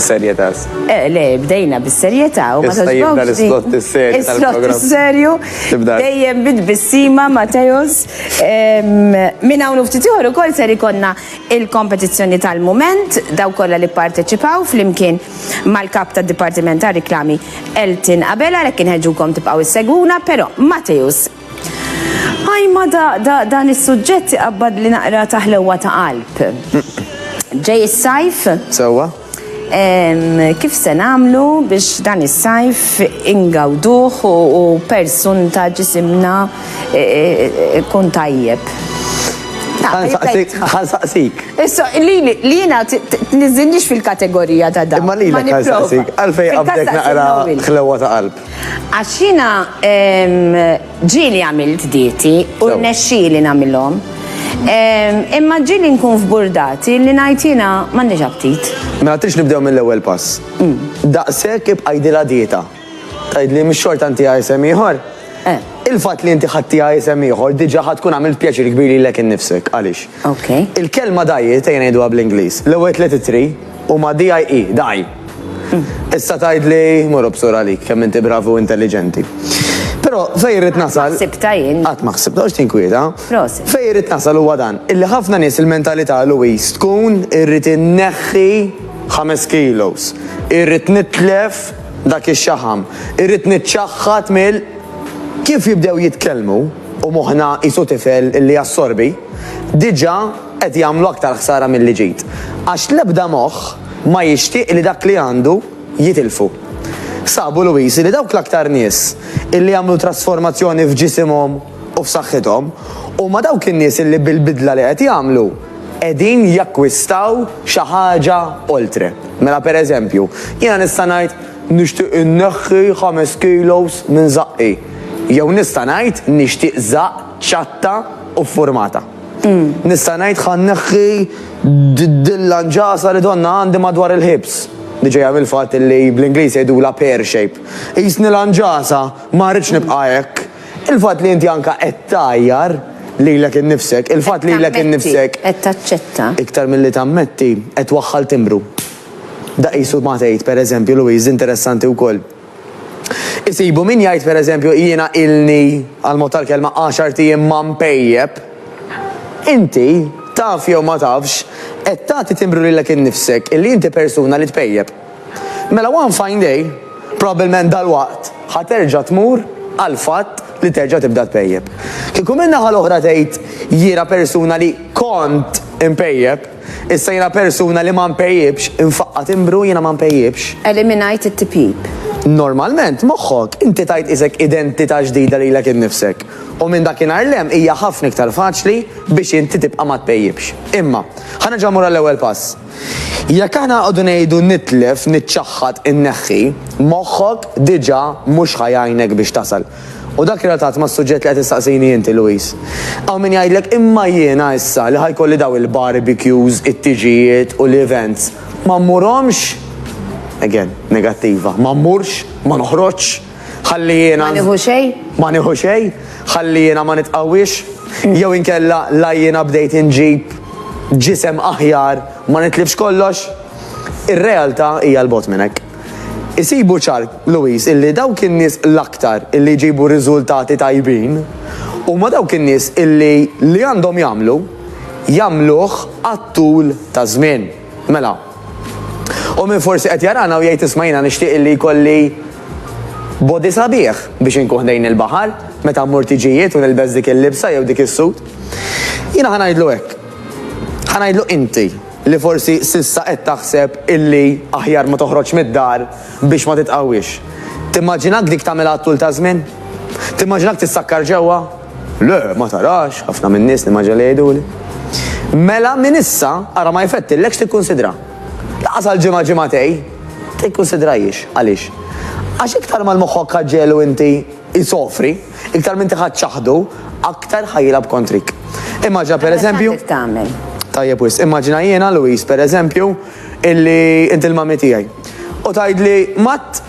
Serjetas. Eh, le, bdejna bis-serjetà u ma Issa jibda taġbawx din. l-islott is-serju Is-slott tal-programm. is-serju. Tibda. Dejjem bit-tbissima, Mateos. Em, Minn hawn u ftit ieħor ukoll ser ikonna il-kompetizzjoni tal-mument, dawk kollha li pparteċipaw flimkien mal-Kap tad-Dipartiment tar-Riklami Elton Abela għalhekk inħeġġukom tibqgħu issegwuna, però Mateusz. Ajma da, da, dan is-suġġett iqabbadli naqra ta' ħlewwa ta' qalb. Ġej is-sajf. Sewwa. Kif se nagħmlu biex dan is-sajf ingawduh u persun ta' ġisimna e, e, e, kun tajjeb? Għan saqsik. Issa, li jina t-nizzindix fil-kategorija ta' dan. Ma li jina għan saqsik, għalfej għabdek naqra xlewa ta' qalb. Għax jina Ġieli għamilt dieti u rnexxieli nagħmilhom. Imma ġieli nkun f'burdati li ngħid jiena m'għandix aptit. Mela tridx nibdew mill-ewwel pass. Daqshekk ibqa' jdilha dieta. Tgħidli mhix xorta ntiha isem ieħor? Il-fatt li inti ħadtiha isem ieħor diġà ħa tkun għamilt pjaċir kbir lilek innifsek. Għaliex? Il-kelma diet, ejja ngħiduha bl-Ingliż, l-ewwel tliet ittri huma DIE, die. Issa tgħid li mur obsur għalik kemm inti bravu u intelliġenti. Però fejn rrid nasal. Ħsibta jien. Qatt ma ħsibta għax tinkwieta. Prosit. Fejn rrid nasal huwa dan, illi ħafna nies il-mentalità Louise tkun irrid inneħħi ħames kilos, irrid nitlef dak ix-xaħam, irrid niċċaħħad mill kif jibdew jitkellmu u moħħna qisu tifel illi jassorbi, diġà qed jagħmlu aktar ħsara milli ġid. Għax l-ebda moħħ Ma jixtieq li dak li għandu jitilfu. Sabu Luisi li dawk l-aktar nies illi għamlu trasformazzjoni f'ġisimhom u f'saħħithom huma dawk in-nies illi bil-bidla li qed jagħmlu qegħdin jakkwistaw xi ħaġa oltre. Mela pereżempju, jiena nista' ngħid nixtieq inneħħi ħames kilos minn żaqqi. Jew nista' ngħid nixtieq żaqq ċatta u ffurmata. Nista' ngħid ħa nneħħi dil-lanġasa li donnha għandi madwar il-ħibs, li ġejja mill-fatt li bl-Ingliż jgħidulha pear shape. Qisni lanġasa, ma rridx nibqa' hekk. Il-fatt li inti anke qed tgħajjar lilek innifsek, il-fatt lilek innifsek, iktar milli tammetti, qed twaħħal timbru. Da qisu ma tgħid, pereżempju, Louise, interessanti wkoll. Isibu min jgħid pereżempju jiena ilni, għall-mod tal-kelma, għaxart ijiem ma npejjep. Inti, taf jew ma tafx, qed tagħti timbru lilek innifsek illi inti persuna li tpejjep. Mela one fine day, probabbilment dalwaqt, ħa terġa' tmur għall-fatt li terġa' tibda tpejjep. Kieku min-naħa l-oħra tgħid jiena persuna li kont inpejjep, Issa jiena persuna li ma npejjipx, infaqqa' timbru jiena ma npejjipx. Eliminajt it-tipjip. Normalment, moħħok, inti tajt isek identità ġdida lilek innifsek. U minn dakinhar 'l hemm hija ħafna iktar faċli biex inti tibqa' ma tpejjipx. Imma, ħa nerġa' mmur għall-ewwel pass. Jekk aħna nqogħdu ngħidu nitlef, niċċaħħad, inneħħi, moħħok diġà mhux ħa jgħinek biex tasal. U dak relatat mas-suġġett li qed issaqsini inti, Louis. Hawn min jgħidlek imma jiena issa li ħa jkolli dawn il-barbecues, it-tiġijiet u l-events, ma mmurhomx? Again, negattiva. Ma mmurx? Ma noħroġx? Ħalli jiena. Ma nieħu xejn? Ma nieħu xejn? Ħalli jiena ma nitqawwiex? Jew inkella la jiena bdejt inġib ġisem aħjar ma nitlifx kollox? Ir-realtà hija 'l bogħod minn hekk. Isibu ċar, Louise, illi dawk in-nies l-aktar illi jġibu riżultati tajbin huma dawk in-nies illi li għandhom jagħmlu, jagħmluh għat-tul taż-żmien. Mela, u min forsi qed jarana u jgħid isma' jiena nixtieq illi jkolli body sabiħ biex inkun ħdejn il-baħar meta mmur tiġijiet u nilbes dik il-libsa jew dik is-sut. Jiena ħa ngħidlu hekk. Ħa ngħidlu inti. li forsi s'issa qed taħseb illi aħjar ma toħroġx mid-dar biex ma titqawwiex. Timmaġinak dik tagħmilha għat-tul taż-żmien? Timmaġinak tissakkar ġewwa? Le, ma tarax, ħafna min-nies nimmaġina li jgħiduli. Mela minn issa ara ma jfettillekx tikkunsidra. Lanqas għal ġimgħa ġimgħatej. Tikkunsidrahiex. Għaliex? Għax iktar ma l-moħħok ħaġġelu inti, isofri, iktar m'inti ħadd ċaħdu, aktar ħa jilgħab kontrik. Immaġina pereżempju. Kif tagħmel? Tajjeb wis, immaġina jiena Luis pereżempju illi inti l-mami tiegħi. U tgħidli mat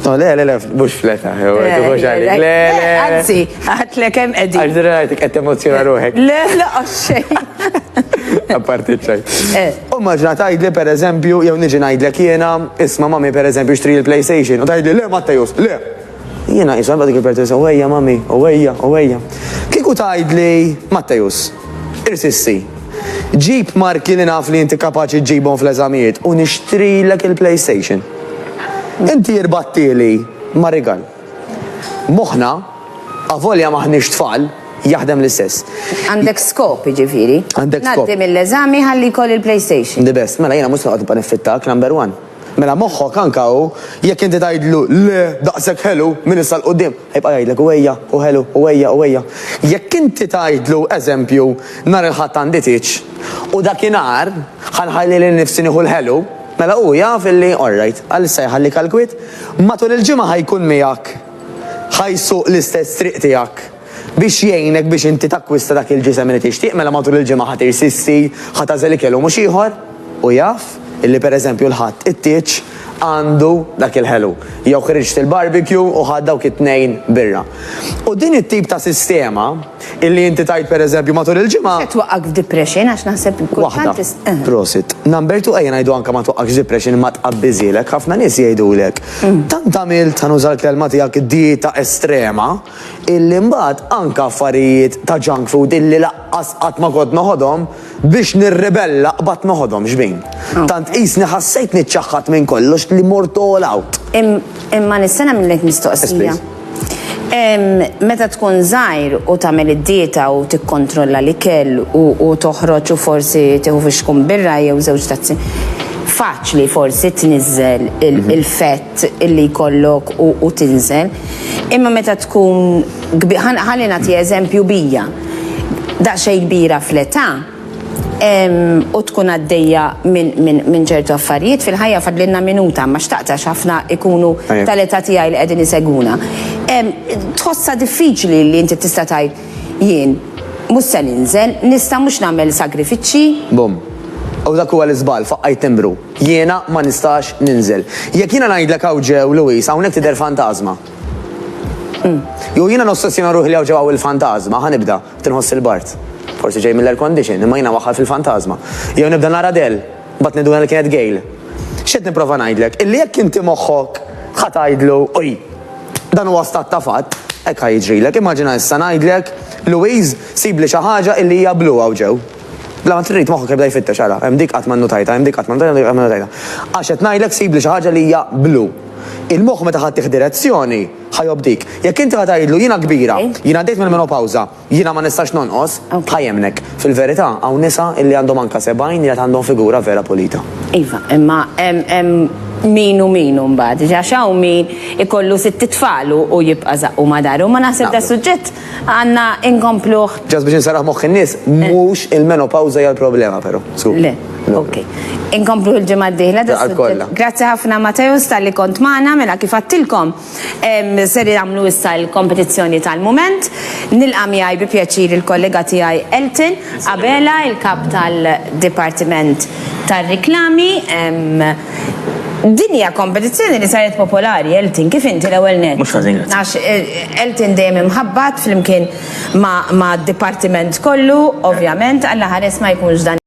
No, le, le, le, mux fleta, eh, mux għalik, le, le. Għazzi, għatli kem edin. Għazzi, għajti, għet emozjona ruħek. Le, le, għaxxej. Għaparti ċaj. Eh. U maġna tajdli, per eżempju, jew niġi najdlek jena, isma mami, per eżempju, xtri il-PlayStation, u tajdli, le, ma tajus, le, Jiena qisha dik il-pertesa owejja mami, owejja, owejja. Kieku tgħidli, Mattejus, irsissi, ġib marki li naf li inti kapaċi ġġibhom fl-eżamijiet u nixtrilek il-PlayStation. Inti irbattili ma' rigal. Moħħna, avolja m'aħniex tfal, jaħdem l-istess. Għandek skop, jiġifieri. Għandek skop. Ngħaddi mill-eżami ħalli jkolli l-PlayStation. The best. Mela jiena mhux se noqgħod nibqa' niffittak, number one. Mela moħħok anka hu, jekk inti tgħidlu le, daqshekk ħelu, minn issa 'l quddiem, ħajbqa' jgħidlek hu ejja, hu ħelu, hu ejja, hu ejja. Jekk inti tgħidlu, eżempju, nhar il-Ħadd għandi tieġ, u dakinhar ħa nħalli lil nifsi nieħu l-ħelu, mela hu jaf illi orrajt, għalissa jħallik għall-kwiet, matul il-ġimgħa ħa jkun miegħek, ħa jsuq l-istess triq tiegħek. Biex jgħinek biex inti takkwista dak il-ġisem li tixtieq mela matul il-ġimgħa ħa tirsissi, ħa tagħżel ikel u mhux ieħor. Hu jaf illi pereżempju l-Ħadd it-tieġ għandu dak il-ħelu, jew ħriġt il-barbecue u ħadt dawk it-tnejn birra. U din it-tip ta' sistema illi inti tgħid pereżempju matul il-ġimgħa. Se twaqqgħek f'depression għax naħseb kultant tista'. Waħda. Prosit. Number two ejja ngħidu anke ma twaqqgħekx f'depression imma tqabbiżhielek. Ħafna nies jgħidulek, tant għamilt, ħa nuża l-kelma tiegħek, dieta estrema, illi mbagħad anke affarijiet ta' junk food illi laqqas qatt ma kont noħodhom, biex nirribella qbadt noħodhom xbin. Tant qisni ħassejt niċċaħħad minn kollox li mort all out. Imma nista' nagħmillek mistoqsija? Meta tkun żgħir u tagħmel id-dieta u tikkontrolla l-ikel u toħroġ u forsi tieħu fixkun birra jew żewġ tazzi, faċli forsi tniżżel il-fett illi jkollok u tinżel. Imma meta tkun ħalli nagħti eżempju bija daqsxejn kbira fl-età u tkun għaddejja minn ċertu affarijiet fil-ħajja fadlilna minuta ma xtaqt għax ħafna ikunu tal-età tiegħi li qegħdin isegwuna. Tħossha diffiċli li inti tista' tgħid jien mhux se ninżel, nista' mhux nagħmel sagrifiċċji? Bum. U dak huwa l-iżball, faqqajt timbru. Jiena ma nistax ninżel. Jekk jiena ngħidlek hawn ġew, Louise, hawnhekk tidher fantażma. Jew jiena nossessjona ruħi li hawn ġew hawn il-fantażma, ħa nibda, qed inħoss il-bard. Forsi ġej mill-air condition, imma jiena waħħal fil-fantażma. Jew nibda nara Del, mbagħad ninduna li kienet Gail. X'qed nipprova ngħidlek? Illi jekk inti moħħok ħa tgħidlu, oj, dan huwa stat ta' fatt, hekk ħa jiġrilek. Immaġina issa ngħidlek, Louise, sibli xi ħaġa illi hija blu hawn ġew. Bla ma trid moħħok jibda jfittex, ara, hemm dik qatt ma nnutajtha, hemm dik qatt ma nnutajtha, hemm dik qatt ma nnutajtha. Għax qed ngħidlek sibli xi ħaġa li hija blu. Il-moħħ meta ħa tih direzzjoni, ħa jobdik. Jekk inti ħa tgħidlu jiena kbira, jien għaddejt mill-menopawża, jiena ma nistax nonqos, ħa jemmnek. Fil-verità, hawn nisa illi għandhom anke sebgħin li għad għandhom figura vera pulita. Iva, imma hemm min u min imbagħad. Għax hawn min ikollu sitt itfal u jibqa' żaqqu ma' daru. Ma naħseb da suġġett. Għanna inkompluħ. Ġas biex nsarraħ moħħ in-nies, mhux il-menopawża hija l-problema però. Su. Le, ok. Inkompluħ il-ġimgħa d-dieħla. da Għal kollha. suġġett. Grazzi ħafna Mateus tal-li kont magħna, mela kif għattilkom em, ser jagħmlu issa l-kompetizzjoni tal-mument. Nilqa' miegħi bi pjaċir il-kollega tiegħi Elton Abela, il-kap tal-Dipartiment tar-Riklami. em, Din hija kompetizzjoni li saret popolari, Elton, kif inti l-ewwel nett. Mhux ħażin, grazzi. Għax Elton dejjem imħabbat flimkien ma' d-dipartiment kollu, ovvjament, Alla ħares ma jkunx dan.